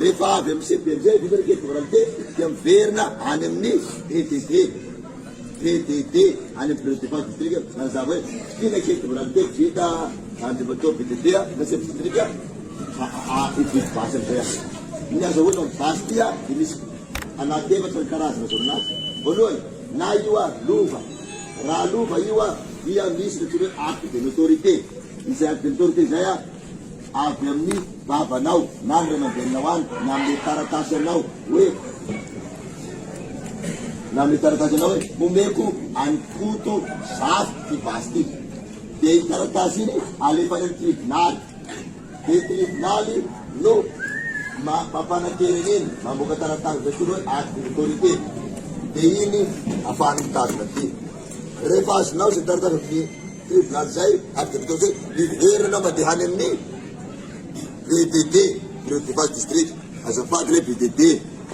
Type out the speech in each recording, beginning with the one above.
Rehefa avy amin'ny CEB amin'izay vita ny carte d'identité dia miverina any amin'ny PDD, PDD any amin'ny Bureau de Defense District manazava hoe ty ilay carte d'identité vita Andriamatoa PDD na Chef District a hividy basy amin'izay aho. Ny azahoana ny basy ty a dia misy anaty efatra ny karazana azo amina azy. Voalohany, na io ary lova, raha lova io a dia misy ny atao hoe acte de notoriété, izay acte de notoriété izay a, avy amin'ny babanao na ny ray aman-dreninao any na amin'ny taratasy anao hoe na amin'ny taratasy anao hoe homeko an'i Koto zato ity basy ity. Dia iny taratasy iny alefa any amin'ny tribonaly. Dia ny tribonaly no ma- mampanantena an'iny, mamoaka taratasy izay koa hoe acte d'autorité. Dia iny afahany mitazona ity. Rehefa azonao izay taratasy amin'ny Dia milaza izay ary dia mitaontsay hiverina mandeha any amin'ny BDD, Bureau de Base District. Azafady ilay BDD,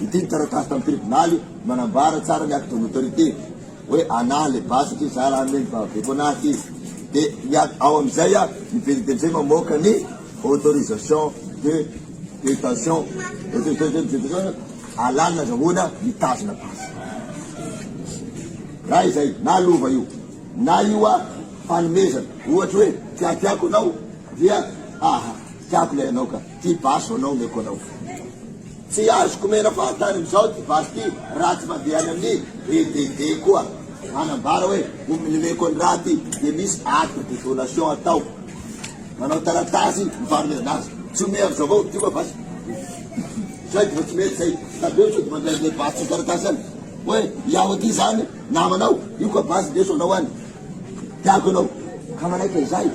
ity ny taratasy tamin'ny tribonaly manambara tsara ny acte de notoriété hoe anah ilay base satria izaho raha hanome ny babako anah ity. Dia ny a, ao amin'izay a, ny BDD amin'izay mamoaka ny autorisation de détention, autorisation de détention, alàna, azahoana mitazona base. Raha izay, na lova io. Na io a fanomezana ohatra hoe tiatiako anao dia aha tiako ilay anao ka tia baso anao omeko anao tsy azoko omena fahatany amizao ty baso ty raha tsy mandeha any amin'ny BDD koa manambara hoe omeko ny raha ty dia misy acte de donation atao manao taratasy mifanomezana azy tsy omea amizao avao ty koa baso zay dia tsy mety zay tadeo sao dia mandray ilay baso taratasy any hoe iaho aty zany Namanao io ka basy ndeso anao any tiako ianao ka manaiky an'izay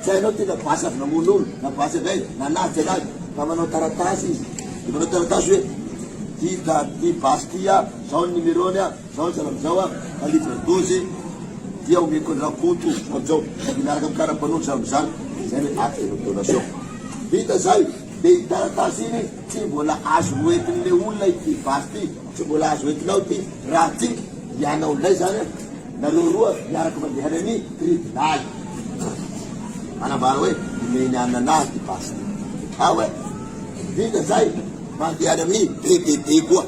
tsy hainao tena basy avy namono olo na basy avy aiza na naty anazy ka manao taratasy izy de manao taratasy hoe ty da ty basy ty a zao ny numerony a zao ny zava zao a ka litre doze dia omeko an'i rakoto zao zao de miaraka amin'ny karapanondro zany mizany zay le acte de donation vita zay de i taratasy iny tsy mbola azo noentin'le olona ity basy ty Tsy mbola azo entinao ty raha tika hianao indray zany an! Nareo roa miaraka mandeha any ami tribilaly. Manambara hoe omeny an anah ty basy ty. Ao hoe vita zay mandeha any ami DDD koa.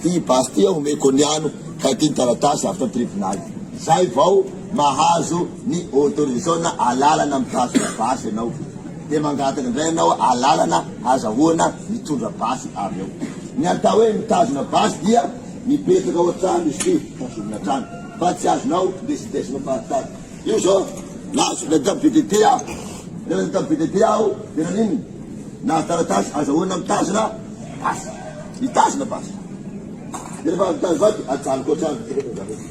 Ty basy ty an omeko ny ano kay ty ny taratasy avy tam tribilaly. Zay vao mahazo ny autorisona alalana mikasika basy ianao. dia mangataka indray ianao alalana azahoana mitondra basy avy eo. Ny atao hoe mitazona basy dia mipetraka ao an-trano izy ity, tazomina hatrany fa tsy azonao ndesindesina fahatany. Io izao lasa ilay tao BDT aho. Rehefa ilay tao BDT aho dia naninona? Nahazo taratasy azahoana mitazona basy. Mitazona basy. Dia rehefa avy mitazona basy dia ajanoko hatrany.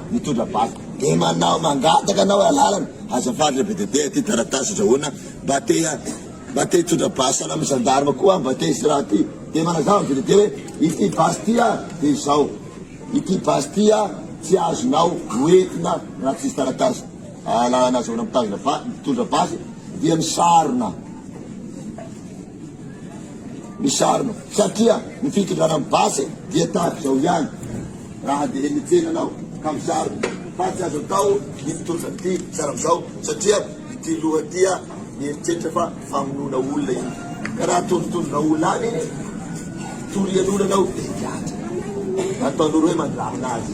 mitondra bac de manao mangataka anao alalana azafady le bdte aty taratasy azahoana mba te mba te hitondra basy any amin'ny gendarme koa aho mba te hisy raha aty de manazava ny bdte hoe ity basy ty a de izao ity basy ty a tsy azonao hoentina raha tsisy taratasy alalana azahoana mitazona va mitondra basy dia misarona Misarona satria ny fitondrana ny base dia tahaka izao ihany raha dia eny an-tsena ianao ka misarona fa tsy azo atao ny mitondra ity fiara amin'izao satria ity loha tia mieritreritra fa famonoana olona iny ka raha atondrotondrona olona any iny torian'olona anao dia higadra ataon'olo hoe mandramina azy.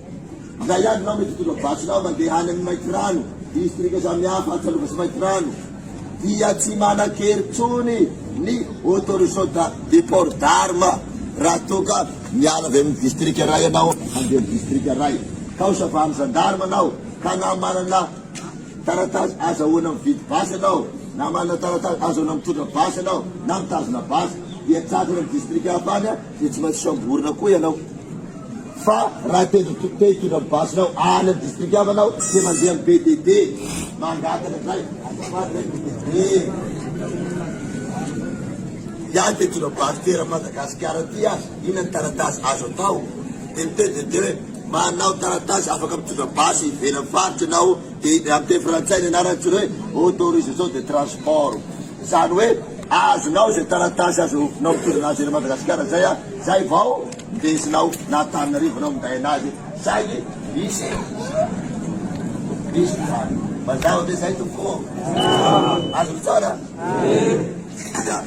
Izay ihany ianao mety hitondra vadinao mandeha any amin'ny Maitirano, distrika samihafa Antsalova sy Maitirano, dia tsy manan-kery intsony ny autorisation de port d'arme raha toa ka miala avy amin'ny distrika iray ianao handeha amin'ny distrika iray. Ka ho savahan'ny zandarma ianao ka na manana taratasy azahoana mividy basy ianao, na manana taratasy azahoana mitondra basy ianao na mitazona basy, dia tsatsy any amin'ny distrika hafa any, Dia tsy maintsy samborina koa ianao fa raha te hitondra ny basinao any amin'ny distrika hafa ianao dia mandeha amin'ny BDD mangataka indray azafady re BDD ihany te hitondra basy toeran'i Madagasikara aty a inona ny taratasy azo atao dia ny BDD hoe manao taratasy afaka mitondra basy ivelan'ny faritra ianao dia amin'ny teny frantsay ny anarany jereo hoe autorisation de transport Zany hoe azonao izay taratasy azonao mitondra azy any Madagasikara zay a, zay vao ndesinao na Antananarivo anao minday anazy saingy misy misy zany. Mazava ve zay tompoko ô? Azony tsara? Ia.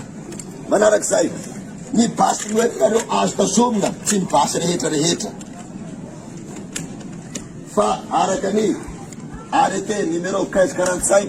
Manarak'izay, ny basy noentinareo azo tazomina tsy ny basy rehetra rehetra fa araka ny arrêté numéro 1545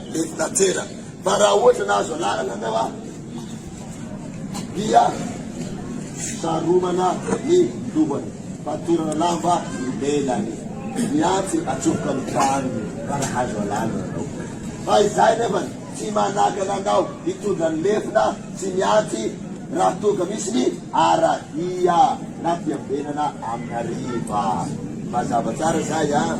Mety nateraka fa raha ohatra nahazo anarana ianao a dia saromana ny lohany, fatorana lamba ny lelany, ny antsy atsofoka ny tranony raha nahazo anarana ianao. Fa izay nefa tsy manakana anao hitondra ny lefona sy ny antsy raha toa ka misy ny aradia na fiambenana amin'ny hariva. Mazava tsara izay an!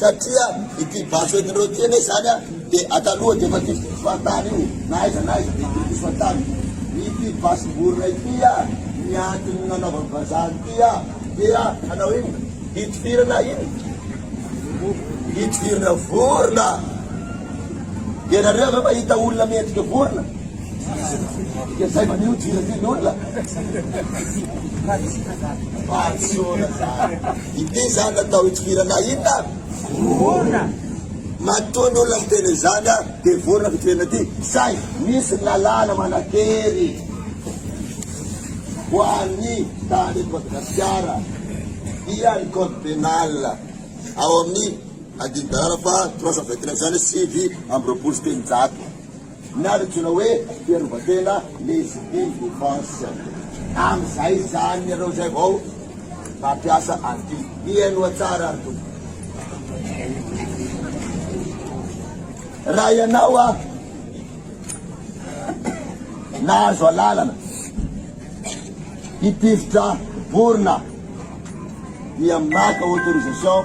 Satria ity basy hoentin'ireo ity anie izany dia ataloha dia efa diso diso fahatany io na aiza na aiza dia diso diso fahatany. Ity basim-borona ity ny antony nanaovany vazaha ity dia hanao inona? Hitifirana inona? Hitifirana vorona. Ianareo ve mahita olona miendrika vorona? Dia izay maneho dira ity ny olona. Fahatsiona izany. Ity zany natao hitifirana hita? Vorona! Matoa ny olona miteny izany a, dia vorona fitifirana ity, saingy misy lalàna manan-kery ho an'ny tany eto Madagasikara, dia ny code pénal ao amin'ny andinin-dalàna faha trois cent vingt neuf, izany hoe sivy amby roapolo sy telonjato. na antsoina hoe fiarovan-tena légitime défense, amin'izay izany ianao izay vao mampiasa an'ity, mihainoa tsara ary tompoko. Raha ianao a nahazo alalana hitifitra borona dia maka autorisation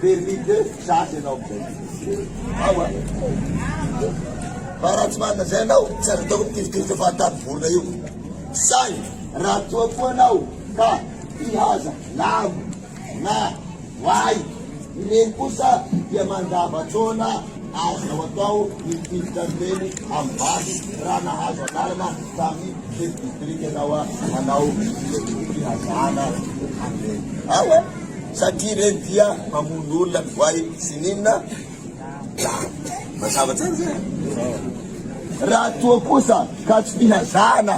Permis de chasse ianao amizay. Ao a. Fa raha tsy manana izay ianao, tsy azo atao mitifitifitra fahatany vorona io. Saingy raha toa koa ianao ka mpihaza lambo na voay, ireny kosa dia mandava-taona azonao atao ny mitifitra an'ireny amin'ny basy raha nahazo anarana tamin'ny chef district ianao hanao fihazana an'ireny. Ao a. satria ireny dia mamono olona ny voay sy ny inona mazava tsara zay raha toa kosa ka tsy fihazana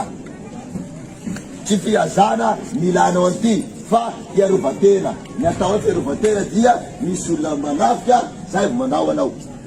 tsy fihazana milanao an'ity fa hiarovatena ny atao hoe fiarovatena dia misy olona manafika zay manao anao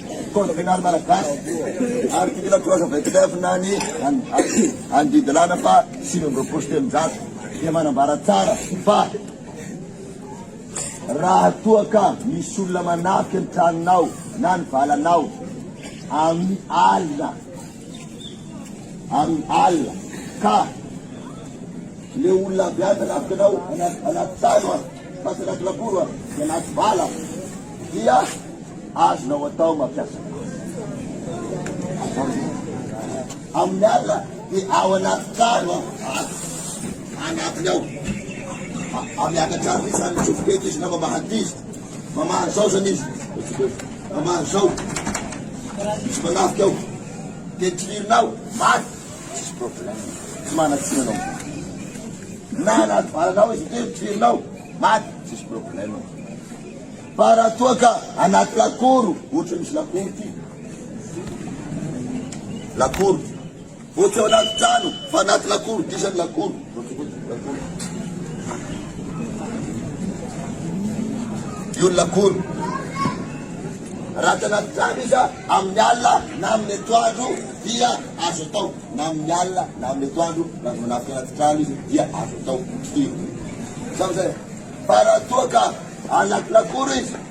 Mpitondra fianarana malagasy ary mpitondra projet VETEF na ny any Didilana fa sivy amby roapolo sy telonjato dia manambara tsara fa raha toa ka misy olona manafika ny tranonao na ny valanao amin'ny alina Amin'ny alina ka le olona avy any manafika anao anaty trano an, fa tsy anaty lakoro an, dia anaty bala an, dia azonao atao mampiasa azy. Amin'ny alina dia ao anaty trano an, anatiny ao, miakatra any izany tsofoka eto izy na mamaha ankizy. Mamaha zao zany izy. Mamaha zao. Misy manafika ao. Tetrinao. Maty. Misy problème. Tsy manatsina anao. Na anaty valanao izy tetrinao. Maty. Misy problème. Fa raha toa ka anaty lakoro, ohatra misy lakoro ty. Lakoro. Boky ao anaty trano fa anaty lakoro, diso ny lakoro. Io ny lakoro. Raha tsy anaty trano izy amin'ny alina na amin'ny etoandro dia azo atao. Na amin'ny alina na amin'ny etoandro na manafika anaty trano izy dia azo atao. Io. Zao zay. Fa raha toa ka anaty lakoro izy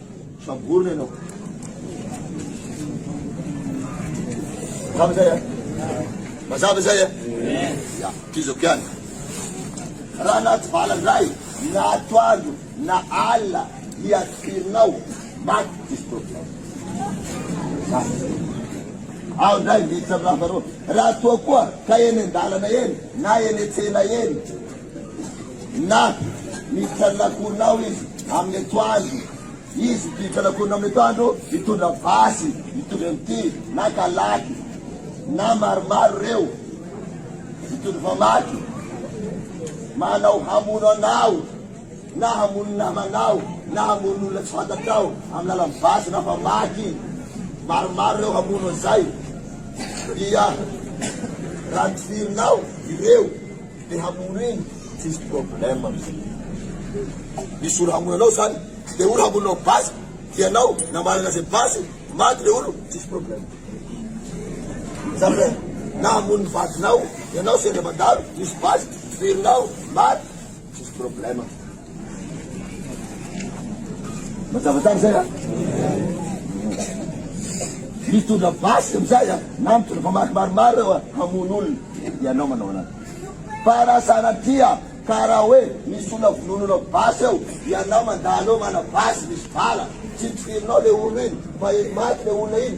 Samborina ianao. Mazava izay an? Mazava izay an? Ya, kizako ihany. Raha anaty valan-dray, na atoandro, na alina, ny atifirinao, maty diso tokona. Ao indray miditra amin'ny lamba roa. Raha toa koa ka eny an-dalana eny, na eny an-tsena eny, Na miditra ny lakonina ao izy amin'ny atoandro, izy miditra ny lakonina amin'ny atoandro mitondra basy mitovy amin'ity na kalaky na maromaro ireo mitondra famaky manao hamono anao na hamono namanao na hamono olona tsy fantatrao amin'ny lalan'ny basy na famaky maromaro ireo hamono an'izay dia raha tirinao ireo Te hamono iny tsisy problème amzay misy olo hamono anao zany de olo hamono anao base de anao na manana ze base maty le olo tsisy problème zany hoe na hamono ny vadinao ianao sendra mandalo misy base ferinao maty tsisy problème Mazava tsara izay a. Mitondra basy amin'izay a, na mitondra mpamaky maromaro eo a, hamono olona, ianao manao anazy. Fa raha sanatria ka raha hoe misy olona vonoin'olona ao basy ao, ianao mandalo eo manao basy misy bala, tsy tokerinao le olona iny, fa eny maty le olona iny,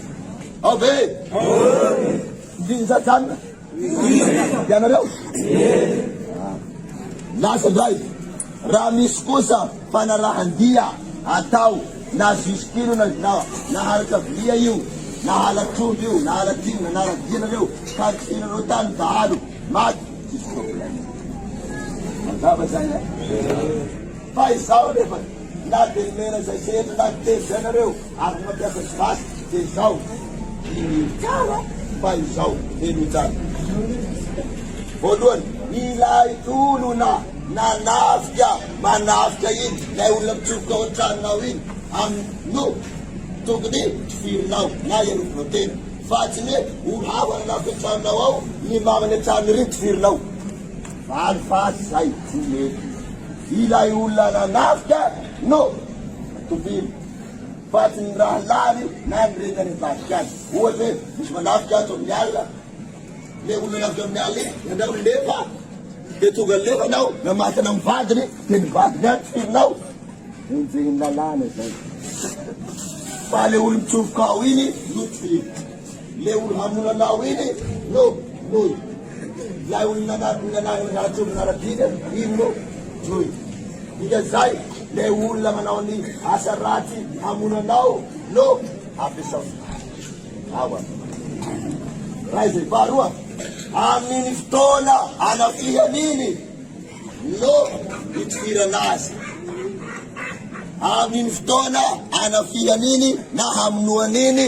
Ave! Visa Jan! Ianareo? Lasa indray. Raha misy kosa fanarahan-dia atao na zisitino na na naharitra vilia io na halatr'omby io na halatr'inona na radianareo ka kisinareo tany dahalo maty tsisy problème. Mazava zay e. Fa izaho nefa na dia mena izay setra na telo izay nareo Ary mampiasa ny basy dia izao ny kara mba izao Henojana. Voalohany, ilay olona nanafika manafika iny, ilay olona mitsofoka ao an-tranonao iny amin'ny no tokony tifirinao na iarovinao tena fa tsy ny hoe ho hava nanafika an-tranonao ao ny mamany an-trano iriny tifirinao. Valo fasy izay tsy mety. Ilay olona nanafika no tovily. Vadin'ny rahalahiny na ny reniny any ambadika any. Ohatra hoe misy manafika ato amin'ny alina, le olo nanafika amin'ny alina iny nandrao ny lefa, de tonga ny lefa nao namatana amin'ny vadiny, de ny vadiny any tifirinao, enjehin'ny lalàna izay, fa le olo mitsofoka ao iny no tifirina. Le olo hamolanao iny no noi lay olo nanariny ratsononarabiny iny no noi dika zay le olona manao ny asa ratsy hamolanao no ampiasao ny maro ao an ray zay faharoa aminy fotoana anafihany iny no itifirana azy aminy fotoana anafihany iny na hamonoany iny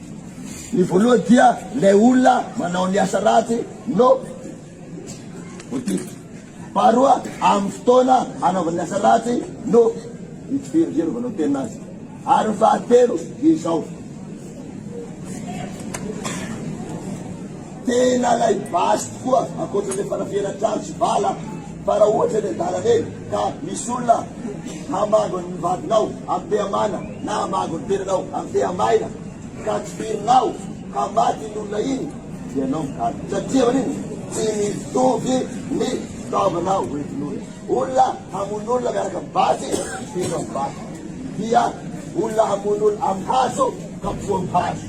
Ny voalohany dia ilay olona manao ny asa ratsy no voatifitra. Faharoa, amin'ny fotoana hanaovany ny asa ratsy no hitifirany izay anaovanao tena azy. Ary ny fahatelo dia izao. Tena ilay basy tokoa, ankoatra ilay fanafihana trano sy bala fa raha ohatra eny an-dalana eny ka misy olona hamango ny vadinao am-pihamana na hamango ny tenanao am-pihamaina ka tifirinao ka maty iny olona iny dia ianao mikalo satria manino tsy mitovy ny fitaovana hoentin'olona. Olona hamono olona miaraka amin'ny basy tifirinao ny basy dia olona hamono olona amin'ny hazo ka poa amin'ny hazo.